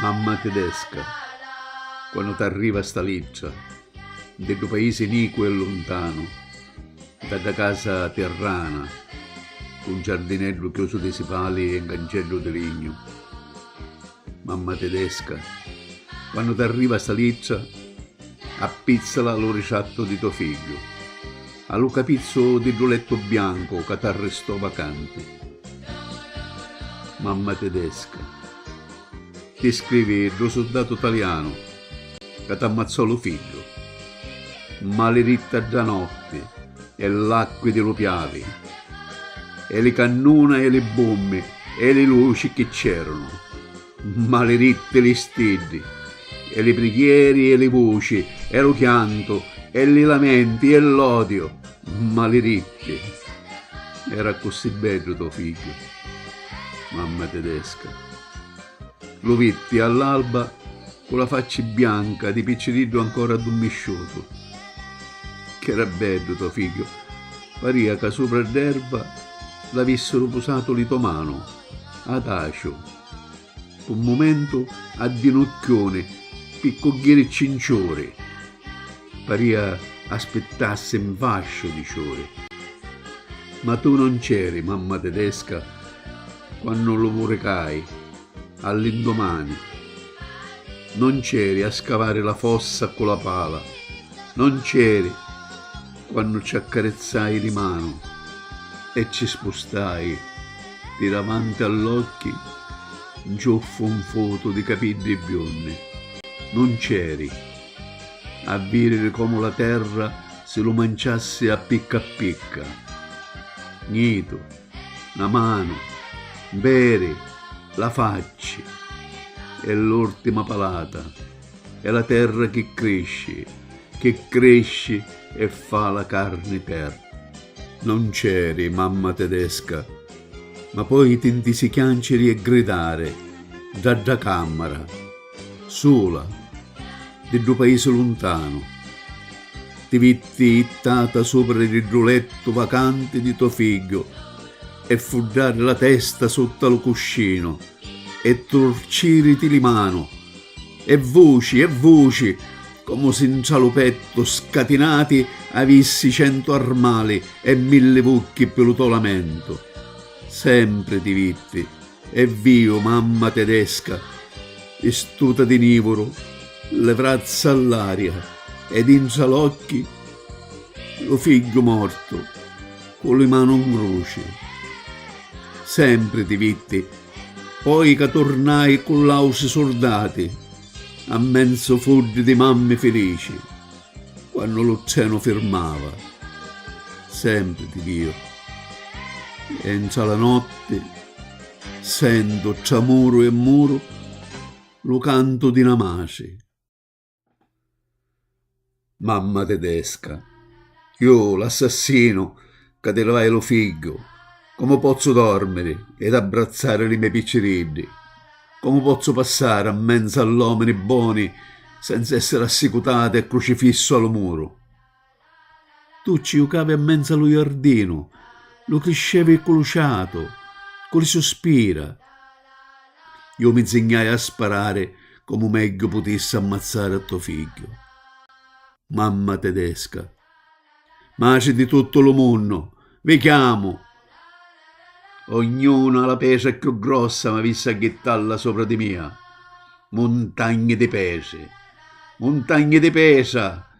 Mamma tidesca, quannu t'arriva sta littra, nti ddu paisi nicu e luntanu, nta dda casa tirrana, cu un giardineddu chiusu di sipali e un canceddu di lignu. Mamma tidesca, quannu t'arriva sta littra, appizzala lu ritrattu di to figghiu. A lu capizzu di ddu lettu biancu ca t'arristò vacanti. Mamma tedesca ti scrivi ddu suddatu talianu ca t'ammazzò lu fiddu. Maliritta dda notti e l'acqui di lu Piavi e li cannuna e li bummi e li luci chi c'erunu. Maliritti li stiddi, e li prighieri, e li vuci, e lu chiantu, e li lamenti, e l'odiu, maliritti! Era accussì beddu to figghiu, mamma tedesca. Lu vitti all'alba cu la facci bianca di picciriddu ancora addummisciutu. Ch'era beddu to figghiu, paria ca supra dd'erva l'avissiru pusatu li to manu. Ataciu, Pu mumentu addinucchiuni pi cugghiri cinciuri. Paria aspittassi 'n fasciu di ciuri. Ma tu non c'eri, mamma tedesca, quannu lu muricai, all'indumani. Non c'eri a scavari la fossa cu la pala. Non c'eri. Quannu ci accarizzai li manu e ci spustai di davanti all'occhi nciuffu nfutu di capiddi biunni, nun c'eri, a viriri comu la terra si lu manciassi a picca a picca. Gnitu, na manu, nperi, la facci e l'urtima palata. E la terra chi crisci, chi crisci e fa la carni per. Non c'eri mamma tedesca, ma poi ti ntisi chianciri e gridari dda dda cammara, sula, di ddu paisi luntanu. Ti vitti jittata supra di ddu lettu vacanti di to figghiu e fuddari la testa sutta lu cuscinu e turciriti li manu. E vuci, e vuci, comu si 'ntra lu pettu scatinati avissi centu armali e milli vucchi ppi lu to lamentu. Sempri ti vitti, e viu, mamma tedesca, vistuta di nivuru, li vrazza all'aria e dintra l'occhi lu figghiu mortu cu li manu 'n gruci. Sempri ti vitti. Poi ca turnai cu l'ausi surdati, a menzu fuddi di mammi filici, quannu lu trenu firmava, sempri ti viu. E ntra la notti sentu, tra muru e muru, lu cantu di na matri. Mamma tedesca. Iu l'assassinu ca ti livai lu figghiu, comu pozzu dormiri ed abbrazzari li me' picciriddi? Comu pozzu passari n menzu all'omini boni senza essiri assicutatu e crucifissu a lu muru? Tu ci jucavi a menza lu jardinu, lu criscevi cu lu ciatu, cu li suspira. Ju mi nzignai a sparari comu megghiu putissi ammazzari a to figghiu. Mamma tedesca. Matri di tuttu lu munnu, vi chiamu! Ognuna a la petra cchiù grossa m'avissi a jittalla sopra di mia. Muntagni di petri, muntagni di petra!